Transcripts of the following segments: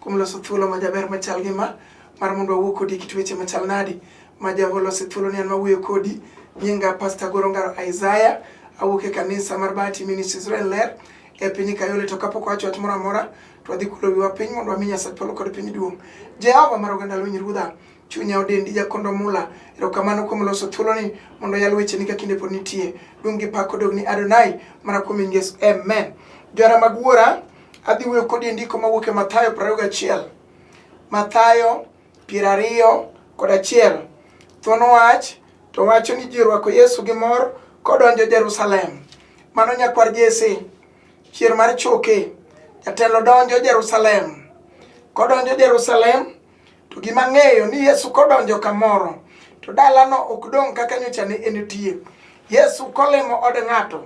Kuom loso thuolo ma jaber machal gi ma, mar mondo wawuo kodi kit weche machal nadi, ma jago lose thuolo ni an mawuoyo kodi, nyinga Pastor Goro Ngaro Isaiah, awuok e kanisa mar Bahati Ministries Israel Ler, e piny Kayole to kapok wacho wach moro amora to wadhi kulo wiwa piny mondo wami Nyasaye polo kod piny duong'. Jehova mar oganda lweny ruodha, chunya odendi jakondo mula, erokamano kuom loso thuolo ni mondo yal weche ni ka kinde pod nitie. Duong' gi pak odog ni Adonai, mana kuom Yesu. Amen. Johana mag wuora, Adhi wuoyo kodi e ndiko mawuok e Mathayo 21. Mathayo piero ariyo kod achiel. Thuon wach to wacho ni ji orwako Yesu gi mor kodonjo Jerusalem. Mano nyakwar Jesse, chier mar choke. Jatelo donjo Jerusalem. Kodonjo Jerusalem, to gima ng'eyo ni Yesu kodonjo kamoro, to dalano ok dong' kaka nyocha ne entie. Yesu kolimo od ng'ato,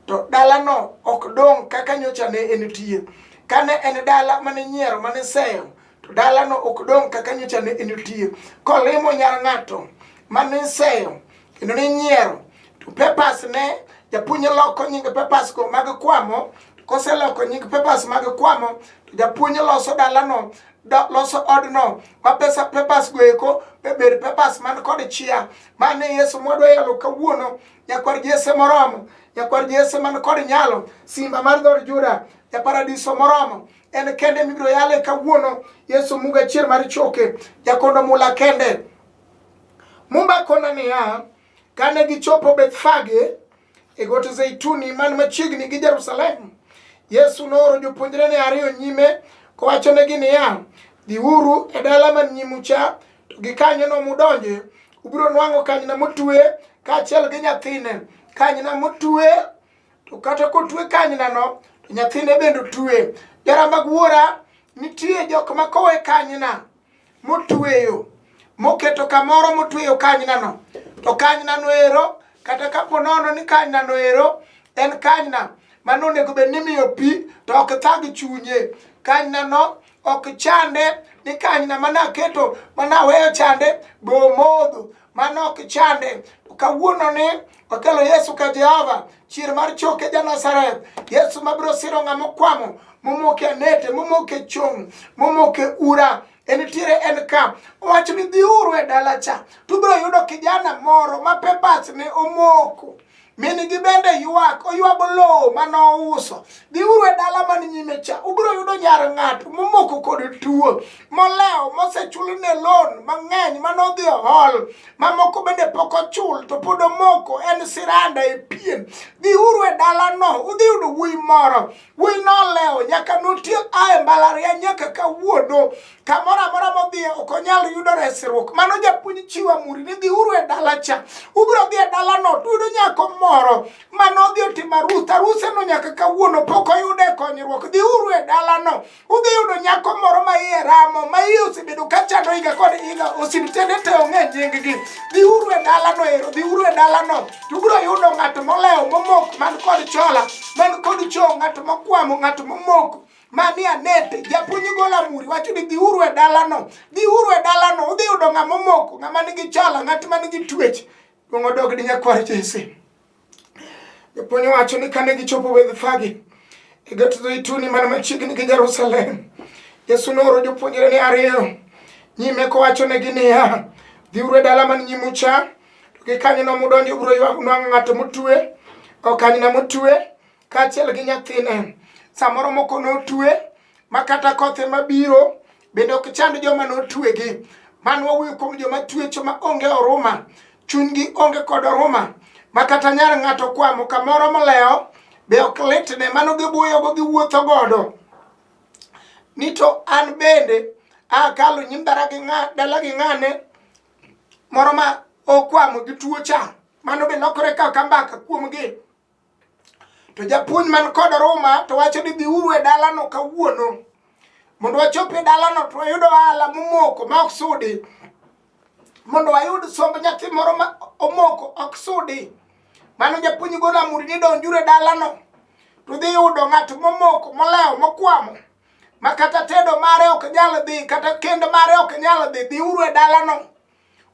To dalano ok dong' kaka nyocha ne enitie. Kane en dala mane nyiero mane seyo, to dalano ok dong' kaka nyocha ne enitie. Kolimo nyar ng'ato mane seyo, kendo ne nyiero, to pepas ne japuonj loko nying pepas go mag kwamo koseloko nying pepas mag kwamo to japuonj loso dalano da, loso odno ma pesa pepas go eko be bed pepas man kod chia mane yesu mwadwa yalo kawuono nyakwar Jesse moromo, nyakwar Jesse man kod nyalo, simba mar dhod Juda, ja paradiso moromo en kende mibiro yale kawuono yesu muga chier mar choke jakondo mula kende mumba kona niya kane gichopo bethfage e got zeituni man machiegni gi jerusalem yesu nooro jopuonjrene ariyo nyime kowachonegi niya dhiuru e dala man nyimucha To gikanyono mudonje, ubiro nwang'o kanyna motwe kaachiel gi nyathine. Kanyna motwe, to kata kotwe kanynano, to nyathine bende otwe. Jara mag wuora, nitie jok ma kowe kanyna motweyo, moketo kamoro motweyo kanynano. To kanynano ero, kata kapo nono ni kanynano ero en kanyna mano onego bed ni imiyo pi to ok thag chunye. Kanynano ok chande ni kanyna ma naketo ma naweyo chande be omodho mano ok chande kawuono ni okelo yesu ka jehova chier mar choke ja nazareth yesu mabiro siro ng'a mokwamo momoke anete momoke chong momoke ura en tiere en ka owacho ni dhiuru e dala cha tubiro yudo kijana moro ma pebas ne omoko Minigi bende ywak, oywago lowo ma nouso. Dhiuru e dala man nyime cha, ubiro yudo nyar ng'ato momoko kod tuo, molewo, mosechulne loan mang'eny ma nodhi ohol, mamoko bende pok ochul to pod omoko, en siranda e pien. Dhiuru e dalano, udhi yudo wuoyi moro. Wuoyi nolewo, nyaka notiek a e mbalariany nyaka kawuono. kamoro amora modhiye ok onyal yudo resruok mano japuonj chiwo amuri ni dhiuru e dala cha ubiro dhi e dalano tuyudo nyako moro mane odhi otimo arus aruseno nyaka kawuono pok oyude konyruok dhiuru e dalano udhi yudo nyako moro ma iye ramo ma iye osebedo ka chando higa kod higa osiptende te ong'e nyinggi dhiuru e dalano ero dhiuru e dalano tubiro yudo ng'at molewo momok man kod chola man kod cho ng'at mokwamo ng'at momoko mani anete japuonj gol amuri wacho ni dhiuru e dalano dhiuru e dalano udhi yudo ng'ama omoko ng'ama nigi chala ng'at ma nigi twech duong' odog ni nyakwar jese japuonj wacho ni kane gichopo wedhfagi e got zeituni mana machiegni gi jerusalem yesu nooro jopuonjre ni ariyo nyime kowachonegi niya dhiuru e dala man nyimu cha to gikanyono mudonjo ubiro ywagnu ng'ato motue okanyna motue kaachiel gi nyathine samoro moko notue ma kata koth ema biro bende ok chand joma notuegi mano wawuoyo kuom joma tuecho ma onge oruma chunygi onge kod oruma ma kata nyar ng'ato kwamo kamoro molewo be ok litne mano gibuoyogo giwuotho godo ni to an bende akalo nyim dala gi ng'ane moro ma okwamo gi tuo cha mano be lokore kaka mbaka kuomgi To japuonj man kod ruma to wacho ni dhiuru e dalano kawuono mondo wachop e dalano to wayud ohala momoko ma ok sudi mondo wayud somb nyathi moro ma omoko ok sudi mano japuonj golo amuri ni donjuru e dalano to dhi yudo ng'at momoko molewo mokwamo ma kata tedo mare ok nyal dhi kata kend mare ok nyal dhi dhiuru e dalano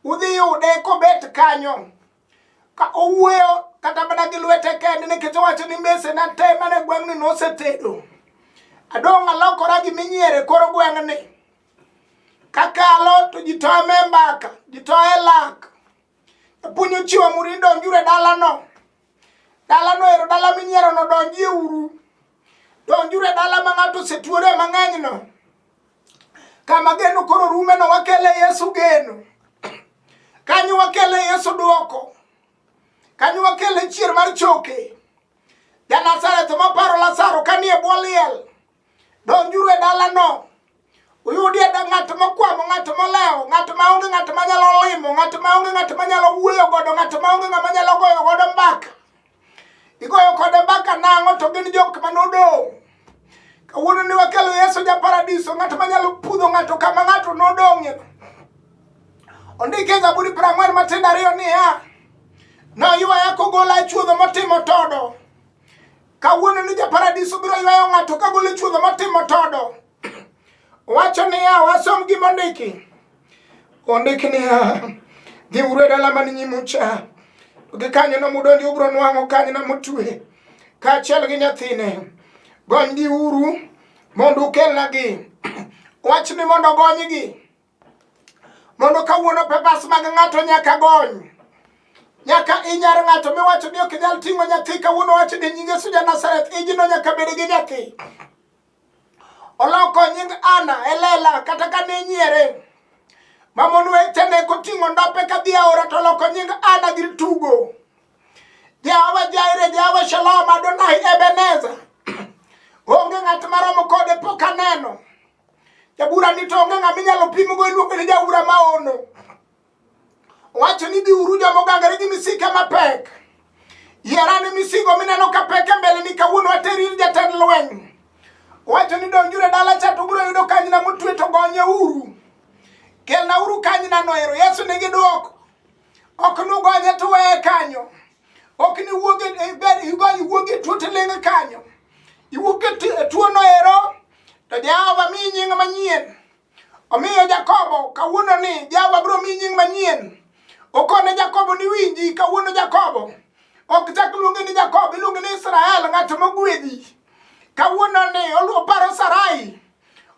udhi yude kobet kanyo ka owuoyo kata mana gi lwete kende nikech owacho ni mese na te mane gweng'ni nosetedo adong' alokora gi minyiere koro gweng'ni kakalo to ji toye me mbaka ji toye lak japuonj ochiwo muri donjuru e dalano dalano ero dala minyierono donjie uru Donjuru e dala ma ng'ato osetuore mang'enyno, kama geno koro rumeno, wakele Yesu geno, kanyo wakele Yesu dwoko, kanyo wakele chier mar choke. Janazareth maparo Lazaro kanie bwo liel, donjuru e dalano. Uyudi ada ng'at mokwamo, ng'at molewo, ng'at maonge, ng'at manyalo limo, ng'at maonge, ng'at manyalo wuoyo godo, ng'at maonge, ng'ama nyalo goyo godo mbaka. Igoyo kode mbaka nang'o to gin jok manodong'. Kawuono ni wakelo Yesu ja paradiso, ng'at manyalo pudho ng'ato kama ng'ato nodong'e. Ondike Zaburi prang'wen matindo ariyo niya, noywaya kogola e chuodho motimo todo. Kawuono ni ja paradiso biro ywayo ng'ato kagolo e chuodho motimo todo. Wacho niya, wasom gima ondiki. Ondik niya, dhi uru e dala man nyimu cha. Gi kanyo no mudonji ubro nwang'o kanyo na mutwe. Kaachiel gi nyathine. Gonygi uru mondo ukelnagi. Wach ni mondo gonygi. Mondo kawuono pepas mag ng'ato nyaka gony. nyaka inyar ng'ato miwacho ni ok inyal ting'o nyathi kawuono wacho ni nyinge suja Nazareth ijino nyaka bed gi nyathi oloko nying Ana e lela kata ka ne nyiere mamon wetene koting'o ndope ka dhi aora to oloko nying Ana gir tugo Jehova Jaire Jehova Shalom Adonai Ebeneza onge ng'at maromo kode pok aneno jabura ni to onge ng'ama inyalo pimgo iluongo ni jabura maono Owacho ni biuru joma ogangore gi misike mapek. Yarane misigo mineno ka pek e mbele ni kawuono ateri ir jatend lweny. Owacho ni donjure dala cha to biro yudo kanyna motwe to gonye uru. Kelna uru kanyna noero. Yesu nigi dwoko. Ok nugonye to weye kanyo. Ok ni wuoge e ber igonye wuoge tuo to ling kanyo. Iwuoge tuo noero to Jehova mi nying manyien. Omiyo Jakobo kawuono ni Jehova biro miyi nying manyien. Okone Jakobo ni winji kawuono Jakobo. Ok chak luonge ni Jakobo, iluonge ni Israel, ng'at mogwedhi. Kawuono ni oparo Sarai.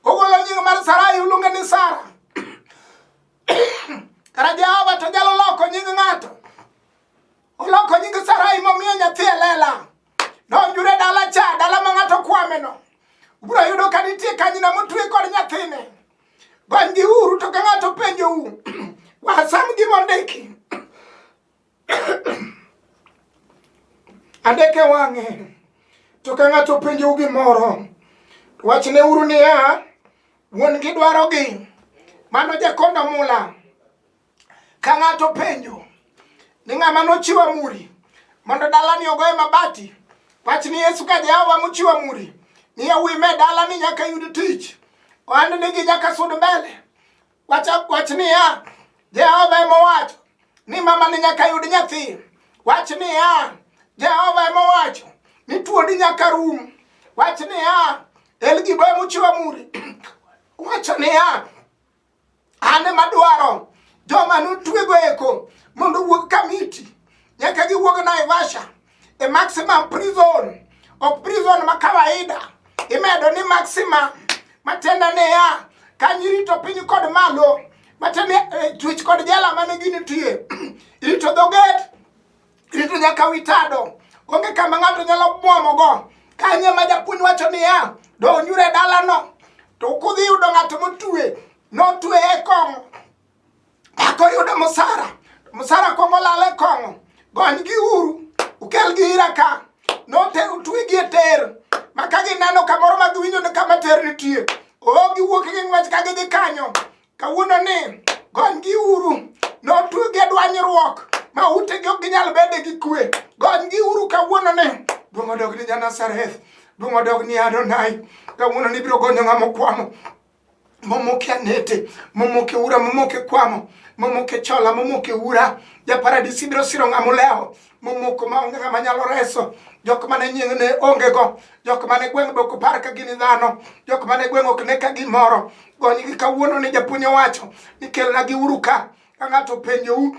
Ogolo nying mar Sarai oluonge ni Sara. Kara Jehova to nyalo loko nying ng'ato. Oloko nying Sarai momiyo nyathi e lela. Nonjure dala cha, dala ma ng'ato kwameno. Ubiro yudo ka nitie kanyina motwe kod nyathine. Gonygi uru to ka ng'ato penjou, wasam gima ondiki. Andeke wang'e. To ka ng'ato penjou gimoro, wachne uru niya, wuon-gi dwarogi. Mano jakonda mula. Ka ng'ato penjo ni ng'ama nochiwo amuri mondo dalani ogoye mabati, wach ni Yesu ka Jehova mochiwo amuri ni yawuoyi me dalani nyaka yud tich, ohand nigi nyaka sud mbele. Wach, wach niya, Jehova ema owacho ni mama ni nyaka yud nyathi. Wach niya, Jehova ema owacho ni tuoni nyaka rum. Wach niya, Elgibo ema ochiwo amuri. Wacho niya, An ema dwaro joma nutwego eko mondo wuog Kamiti nyaka giwuog Naivasha e maximum prison ok prison ma kawaida imedo ni maxima matenda ne ya kanyirito piny kod malo matende eh, twech kod jela mane ginitie irito dhoget Kristo nyaka wi tado. Onge kama ng'ato nyalo mwomogo. Kanye ma japuonj wacho niya, donyure e dalano, to kudhi yudo ng'ato motue, notue e kong'o. Mako yudo mosara, mosara kong'o lal e kong'o. Gonygi uru, ukelgi ira ka. Noter utwegi e ter, ma ka gineno kamoro ma giwinjo ni kama ter nitie, oo giwuok gi ng'wech ka gidhi kanyo. kawuono ni gonygi uru notuge dwanyruok ma utegi ok ginyal bede gi kwe gonygi uru kawuono ni duong' odog ni janasareth duong' odog ni adonai kawuono ni biro gonyo ng'ama okwamo momoke anete momoke ura momoke kwamo momoke chola momoke ura japaradisi biro siro ng'ama olewo momoko maonge ng'ama nyalo reso jok mane nying ne onge go jok mane gweng' be ok par ka gin dhano jok mane gweng' ok ne ka gimoro gonygi kawuono ni japuonj owacho ni kelna gi uru ka ka ng'ato penjou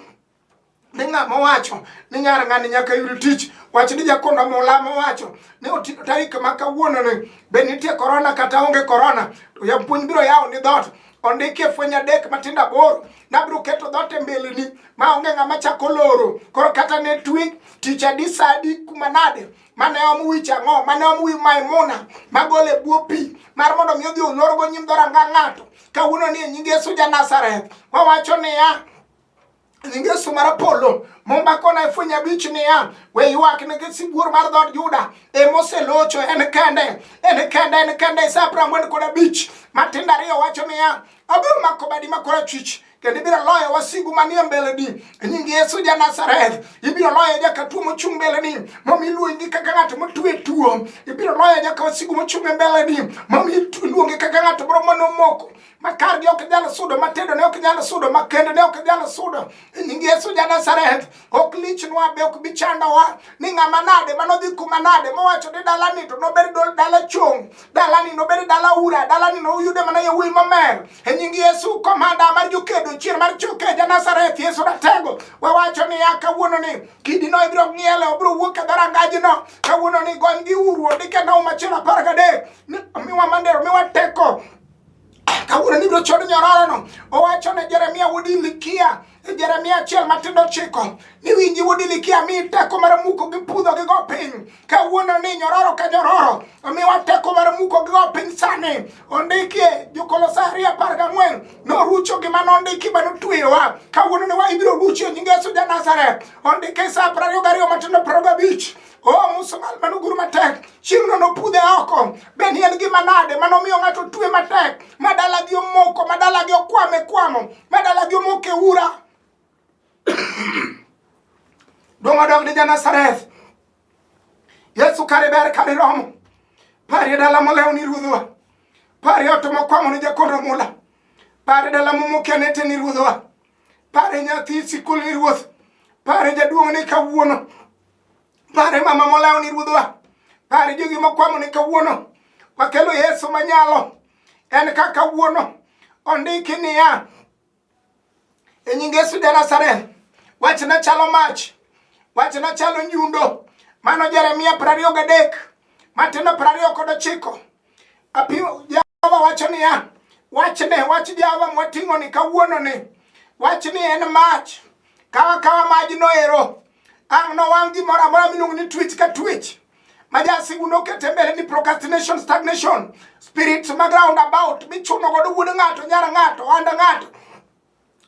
ni ng'ama owacho ni nyar ng'ani nyaka yud tich wach ni jakondo mula mowacho ni otido tarik ma kawuononi be nitie korona kata onge korona to japuonj biro yawo ni dhoot ondiki e fweny adek matindo aboro nabiro keto dhoot e mbeleni ma onge ng'ama chako loro koro kata ne twi tich adi sa adi kuma nade mane om wich ang'o mane om wi maimuna magol e bwo pi mar mondo mi odhi olorgo nyim dhoranga ng'ato kawuono ni e nying yesu ja nazareth wawacho niya Ngeso mar polo mumba kona fwenya bich niya we ywak nigi sibuor mar dhood Juda emoselocho en kende en kende en kende Isaya piero ang'wen kod abich matindo ariyo wacho niya abiro mako badi ma korachwich kendo ibiro loyo wasigu manie mbeleni e nying yesu ja nazareth ibiro loyo nyaka tuo mochung' mbeleni momi iluongi kaka ng'ato motue tuo ibiro loyo nyaka wasigu mochung' e mbeleni momi iluongi kaka ng'ato moro manomoko makargi ok nyal sudo matindo ne ok nyal sudo makende ne ok nyal sudo nying yesu ja nazareth ok lichnwa be ok bichandowa ni ng'ama nade manodhi kuma nade mowacho ni dalani to nobed dala chung' dalani nobed dala ura dalani noyude mana yawuoyi mamer e nying yesu komanda mar jokedo chier mar choke ja nazareth yesu ratego wawacho niya kawuononi kidino ibiro ng'iele obiro wuok e dharangajino kawuononi gony gi uru ondike nau machielo apar gadek miwa mandero miwa teko kawuono nibiro chod nyororono owacho ne jeremia wuod ilikia e jeremia achiel matindo chiko ni winji wuod ilikia mi teko mar muko gi pudho gi go piny kawuono ni nyororo ka nyororo omiwa teko mar muko gi go piny sani ondikie jokolosari apar gang'wen norucho gima nondiki ma notweyowa kawuono ni wa ibiro rucho nyingesu ja nazareth ondike sa prariyo gariyo matindo prariyo gabich Oh, Musa mal mano guru matek. Chieng'no nopudhe oko. Be ni en gima nade mano miyo ng'ato twe matek? Madala gi omoko, madala gi okwame kwamo, madala gi omoke ura. Dong odog ni Janasareth. Yesu kare ber kare romo. Pari dala molew ni ruodhwa. Pari ot mokwamo ni jakondo mula. Pari dala momoke nete ni ruodhwa. Pari nyathi sikul ni ruoth. Pari jaduong' ni kawuono. Pare mama molawo ni ruodhwa. Pare jogi mokwamo ni kawuono. Wakelo Yesu manyalo. En ka kawuono. Ondiki niya. E nying Yesu de Nazareth. Wachna chalo mach. Wachna chalo nyundo. Mano Jeremia prariyo gadek. Matendo prariyo kod ochiko. Apio... Jehova wacho niya, wachne wach Jehova mwating'oni kawuononi, wach ni en mach, kawa kawa majno ero, ang' nowang' gimoro amora miluongo ni twich ka twich majasigu nokete mbele ni procrastination stagnation spirits mag round about michuno godo wuod ng'ato nyar ng'ato ohanda ng'ato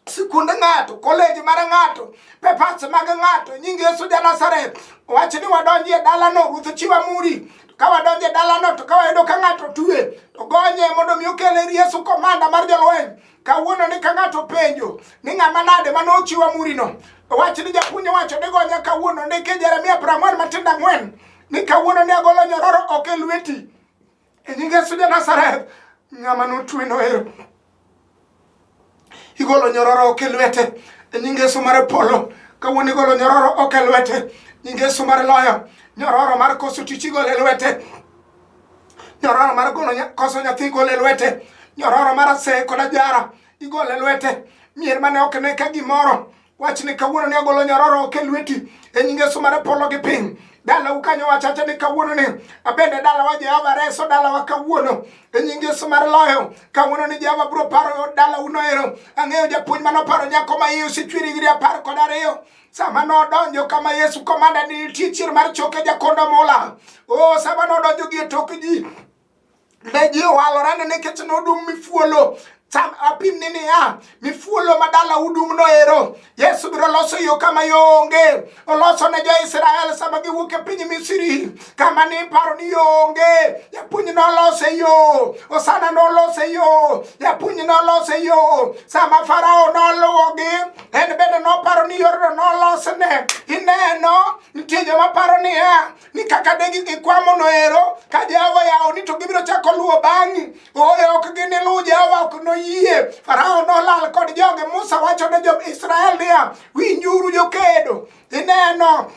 sikund ng'ato koleji mar ng'ato pepas mag ng'ato nying yesu ja nazareth wach ni wadonji e dalano ruth chiwa muri ka wadonjo e dalano to ka wayudo ka ng'ato tue to gonye mondo mi okel ir yesu komanda mar jolweny kawuono ni ka ng'ato penjo ni ng'ama nade ma nochiwa murino wach ni japuonj owacho ni gonya kawuono ni ki jeremia prang'wen matindo ang'wen ni kawuono ni agolo nyororo ok e lweti E nying Yesu ja Nazareth, ng'ama notwe noero. Igolo nyororo ok e lwete. E nying Yesu mar polo, kawuono igolo nyororo ok e lwete. Nying Yesu mar loyo, nyororo mar koso tich igolo e lwete. Nyororo mar golo koso nyathi igolo e lwete. Nyororo mar aseye kod ajara igolo e lwete. Mier mane ok ne ka gimoro Wach ni kawuono ni agolo nyororo oke lweti e nyinge Yesu mane polo gi piny. Dala ukanyo wachacha ni kawuono ni abende dala wa Jehova reso dala wa kawuono e nyinge Yesu mar loyo kawuono ni Jehova bro paro dala uno ero. Ang'eyo japuonj mano paro nyako ma iye osechwiri giri apar kod ariyo sama nodonjo kama Yesu komanda ni nitie chier mar choke jakondo mula. Oh, sama nodonjo gi e tok ji ne ji owalorane nikech nodum mifuolo cham apim ni niya mifuolo ma dala udum noero yesu biro loso yo kama yo onge oloso ne jo-israel sama giwuok e piny misiri kama ni paro ni yo onge japuonj nolose yo osana nolose yo japuonj nolose yo sama farao noluwogi en bende noparo ni yorno nolosne ineno nitie joma paro niya ni kaka de ikwamo noero ka Jehova yawoni to gibiro chako luwo bang'i. Ooyo ok giniluw Jehova, ok noyie. Farao nolal kod joge. Musa wacho ne jo-Israel niya, winjuru jokedo. Ineno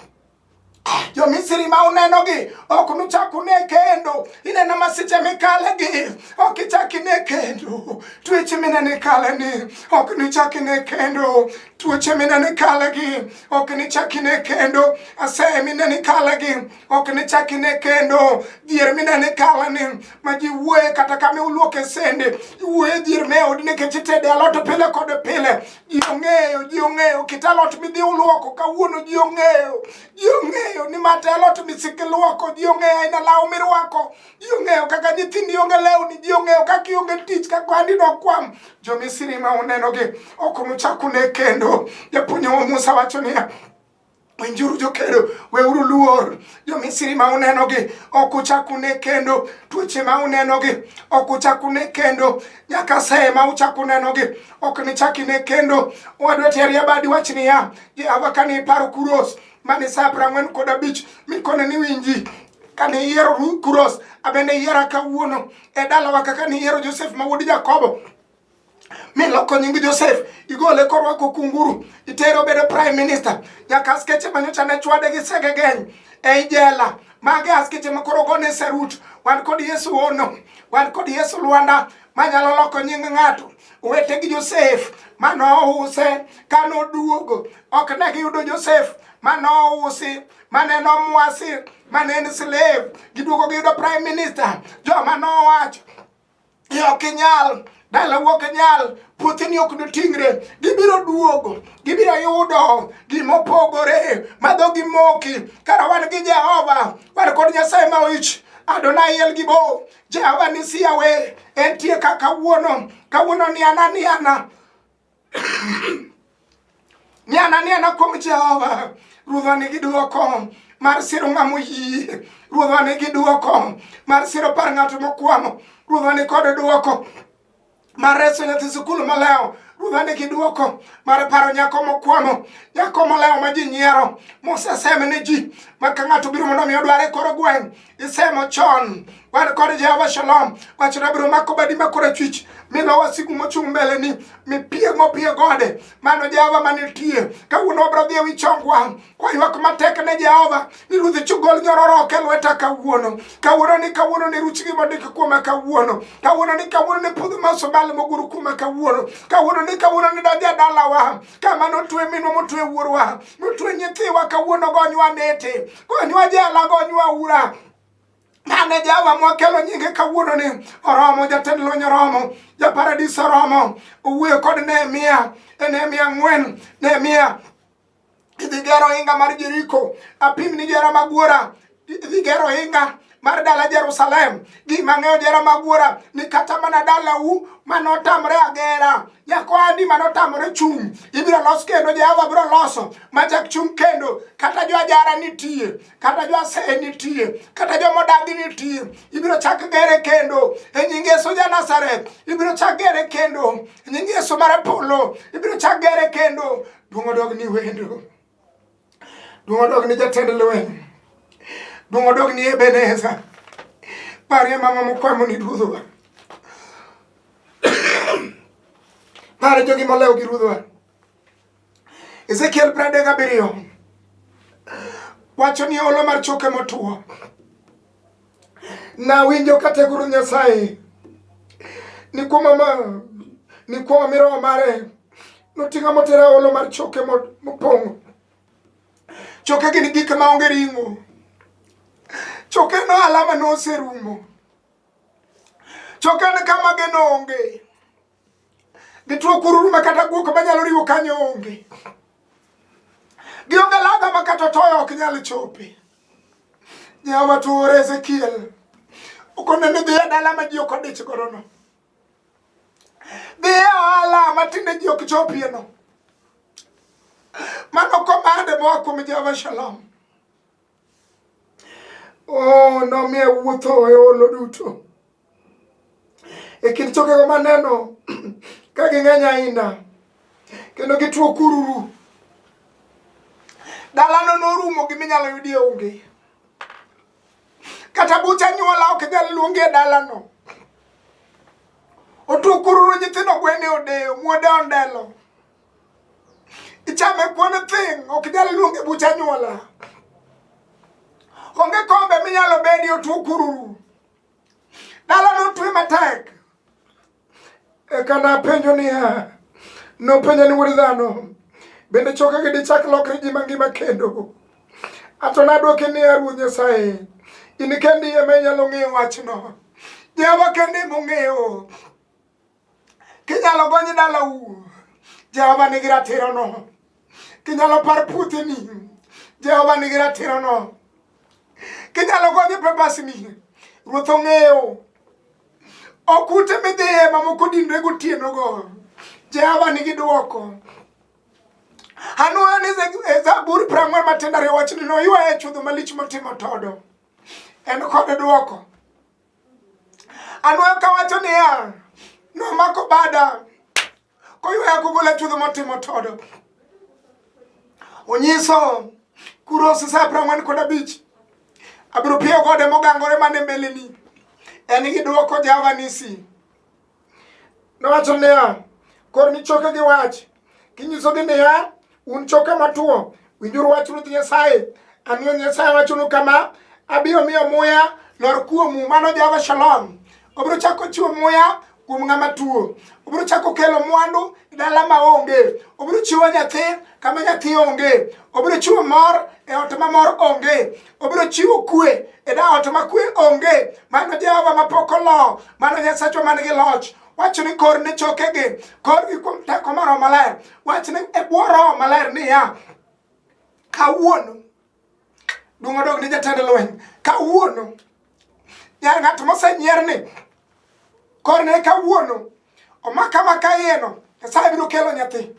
jo-Misri ma unenogi ok nuchak une kendo. Ineno masiche mikalegi ok ichak ine kendo. Tuech mineno ikaleni ok nichak ine kendo. tuoche mine ni kalagi ok nichak ine kendo aseye mine ni kalagi ok nichak ine kendo dhier mine ni kalani ma ji wuoye kata ka miuluoke sende iwuoye dhier me odi nikech itede alot pile kod pile ji ong'eyo ji ong'eyo kit alot midhi uluoko kawuono ji ong'eyo ji ong'eyo ni mate alot misik iluoko ji ong'eyo aina law mirwako ji ong'eyo kaka nyithindi onge lewni ji ong'eyo kaka ionge tich kaka handi nokwam jomisiri ma unenogi ok nuchak une kendo japuonjwa musa wacho niya winjuru jokedo weuru luor jomisiri ma unenogi ok uchak une kendo tuoche ma unenogi ok uchak une kendo nyaka seye ma uchak unenogi ok nichak ine kendo wadwa teri abadi wach niya jehova kane iparo kuros mane sa prang'wen kod abich mikone ni winji kane iyiero Kuros, abende iyiera kawuono e dalawa kaka niyiero Josef ma wuod Jakobo miloko nying Josef igole korwako kunguru itere obedo prime minister nyaka askeche manyocha ne chwade gi sege geny e ijela mage askeche ma koro gone sarut wan kod Yesu ono wan kod Yesu Lwanda manyalo loko nying ng'ato owete gi Josef manouse kanoduogo ok ne giyudo Josef mano usi mane nomwasi mane en slave giduogo giyudo prime minister joma nowacho ni ok inyal dala wuok inyal puothini ok noting're gibiro duogo gibiro yudo gimopogore ma dho gimoki kara wan gi jehova wan kod nyasaye ma oich Adonai el gibo Jehova nisiyawe entie ka kawuono kawuono ni ana ni ana Niana niana kuom Jehova, Ruodhwa nigi duoko mar siro ng'ama oyie. Ruodhwa nigi duoko mar siro par ng'ato mokwamo. Ruodhwa ni kod duoko mar reso nyathi sikul malewo ruodha nigi duoko mar paro nyako mokwamo nyako molewo ma ji nyiero mosesem ne ji ma ka ng'ato biro mondo mi odware koro gweng' isemo chon wan kod jehova shalom wachno abiro mako badi makorachwich mi lo wasigu mochung' mbeleni mipiego pie gode mano jehova manitie kawuono wabiro dhi e wi chongwa kwaywak matek ne jehova ni ruodhi chugol nyororoke lweta kawuono kawuono ni kawuono ni ruch gi mondik kuoma kawuono kawuono ni kawuono ni pudh masobal moguru kuoma kawuono kawuono ni kawuono ni daja dalawa kama notwe minwa motwe wuorwa notwe nyithiwa kawuono gonywa nete gonywa jela gonywa ura mane jawa mwakelo nyinge kawuono ni oromo jatend lweny oromo japaradis oromo owuoyo kod nehemia e nehemia ng'wen nehemia idhi gero inga mar jeriko apim ni jera magwora dhi gero ohinga mar dala Jerusalem. Gima ng'eyo jera magwora ni kata mana dalau manotamre agera nyakwandi manotamre chung' ibiro los kendo Jehova biro loso machak chung' kendo kata jo ajara nitie kata jo aseye nitie kata jo modagi nitie ibiro chak gere kendo e nying Yesu ja Nazareth ibiro chak gere kendo e nying Yesu mar Apollo ibiro chak gere kendo duong' odog ni wendo Duong' odog ni jatend lweny. Duong' odog ni Ebeneza. Parie mama mokwamo ni ruodhwa. Pare jogi molewo gi ruodhwa. Ezekiel pradek abiriyo wacho ni olo mar choke motuo Nawinjo ka teguru Nyasaye ni kuom ma ni kuom mi roho mare noting'a motera olo mar choke mopong'o choke gin gik ma onge ring'o choke no alama noserumo choke ne kama geno onge Gituo kururu ma kata guok manyalo riwo kanyo onge. Gionge laga ma kata toyo ok nyal chope. Nyawa tuore Ezekiel. Okonene dhiye dala ma ji ok odich gorono. Dhiye ohala ma tinde ji ok chopie no. Mano komande moa kuom Jehova Shalom. Oh, nomiye wuotho e olo duto e kind chokego maneno ka ging'eny ahinya kendo gituo kururu dalano norumo gi minyalo yudie onge kata bucha nyuola ok nyal luongi e dalano otuo kururu nyithindo gwene odeyo muode ondelo Ichame kuon thing, ok nyal luonge bucha nyuola. Onge kombe minyalo bedi otuo kururu. Dala notwe matek. Eka napenjo niya, nopenjo ni wuod dhano, bende choke gi dichak lokre ji mangima kendo? Ato nadwoke niya, Ruoth Nyasaye, in kendi ema inyalo ng'eyo wachno. Jehova kende mong'eyo kinyalo gony dalau jehova nigi ratirono kinyalo par puotheni jehova nigi ratirono kinyalo gony pepasni ruoth ong'eyo ok ute midhiye mamoko dinre gotienogo jehova nigi dwoko anwoyo ni e zaburi prang'wen matendare wachni noywaye chudho malich motimo todo en kod dwoko Anwoyo ka wacho niya, nomako bada koywaya kogola chuodho motimo todo. Onyiso kuro sisa prang'wen kod abich abiro piyo gode mogangore mane mbeleni en gi dwoko javanisi Nowacho niya, kor ni choke gi wach, kinyisogi niya, un choke matuo, winjuru wach Ruoth Nyasaye. An Ruoth Nyasaye wachonu kama, abiro miyo muya lor kuomu, mano Jehova Shalom. Obiro chako chiwo muya kuom ng'ama tuo. Obiro chako kelo mwandu e dala ma onge. Obiro chiwo nyathi kama nyathi onge. Obiro chiwo mor e ot ma mor onge. obiro chiwo kwe e daot ma kwe onge mano jehova ma pok olo mano nyasachwa man gi loch wach ni kor ne chokegi korgi kuom teko mar maler wach ni e bwo roho maler niya kawuono duong' odog ni jatend lweny kawuono ya ng'at mosenyier ni kor ne kawuono omaka maka iyeno nyasaye biro kelo nyathi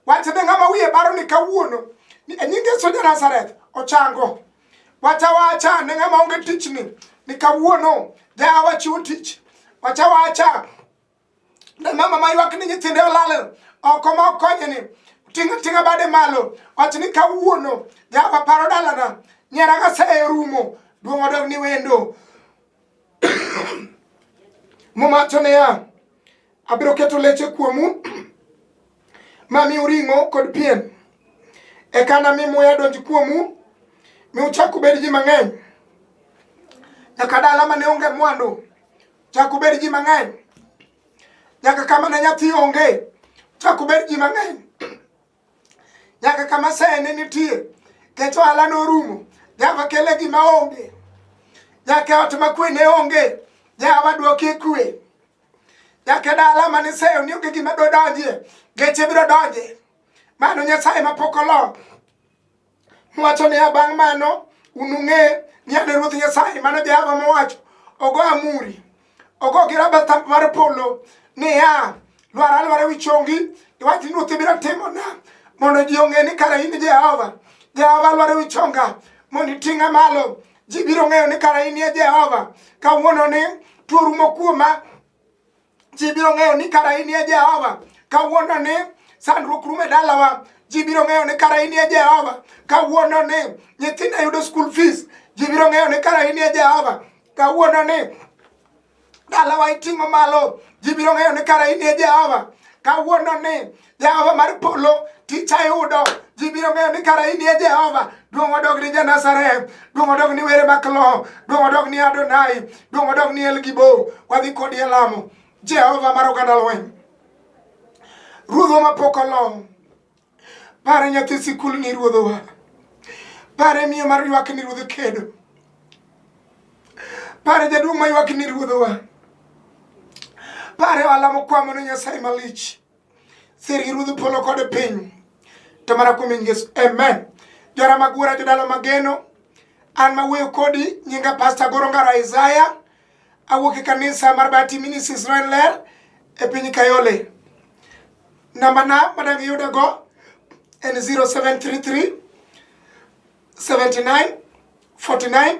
Wacha be ng'ama wiye baro ni kawuono ni e nying Yesu ja Nazareth ochango. Wacha wacha ne ng'ama onge tich ni ni kawuono ja wachiwo tich. Wacha wacha ne mama ma ywak ni nyithinde olal oko ma okonye ni tinga tinga bade malo wacha ni kawuono ja waparo dalana nyera ka se rumo duong' odog ni wendo Momacho niya, abiro keto leche kuomu ma mi uring'o kod pien, eka nami muya donj kuomu mi uchak ubed ji mang'eny, nyaka dala mane onge mwandu chak ubed ji mang'eny, nyaka kama ne nyathi onge chak ubed ji mang'eny. nyaka kama seye ne nitie kech ohala norumo nyaka kele gima onge nyaka ot makwe ne onge nyaka wadwokie kwe nyaka dala mane seyo ni onge gima dodonjie geche biro donje mano nyasaye mapok oloo Mowacho niya, bang' mano unung'e ni an Ruoth Nyasaye, mano Jehova mowacho, ogo amuri, ogo gi rabata mar polo niya, lwar alwara wi chongi, iwach ni Ruoth ibiro timona, mondo ji ong'e ni kara in Jehova. Jehova alwara wi chonga, mondo iting'a malo. Ji biro ng'eyo ni kara in Jehova, kawuono ni tuo rumo kuoma, Ji biro ng'eyo ni kara in e Jehova kawuono ni sandruok rumo e dalawa. Ji biro ng'eyo ni kara in e Jehova kawuono ni nyithinda yudo school fees. Ji biro ng'eyo ni kara in e Jehova kawuono ni dalawa iting'o malo. Ji biro ng'eyo ni kara in e Jehova kawuono ni Jehova mar polo tich ayudo ji biro ng'eyo ni kara in e Jehova duong' odog ni Janazareth duong' odog ni were maklo duong' odog ni Adonai duong' odog ni Elgibo wadhi kodi e lamo Jehova mar oganda lweny ruodhwa mapok olong pare nyathi sikul ni ruodhowa pare miyo mar ywak ni ruodh kedo pare jaduong' ma ywak ni ruodhowa pare ohala mokwamo ne Nyasaye malich sir gi ruodh polo kod piny to mana kuom nying Yesu amen jora mag wuora jodalo mageno an ma wuoyo kodi nyinga pasta goro ngara isaya awuok e kanisa mar bati minis israel ler e piny kayole namba na madang iyuda go en 0733 79 49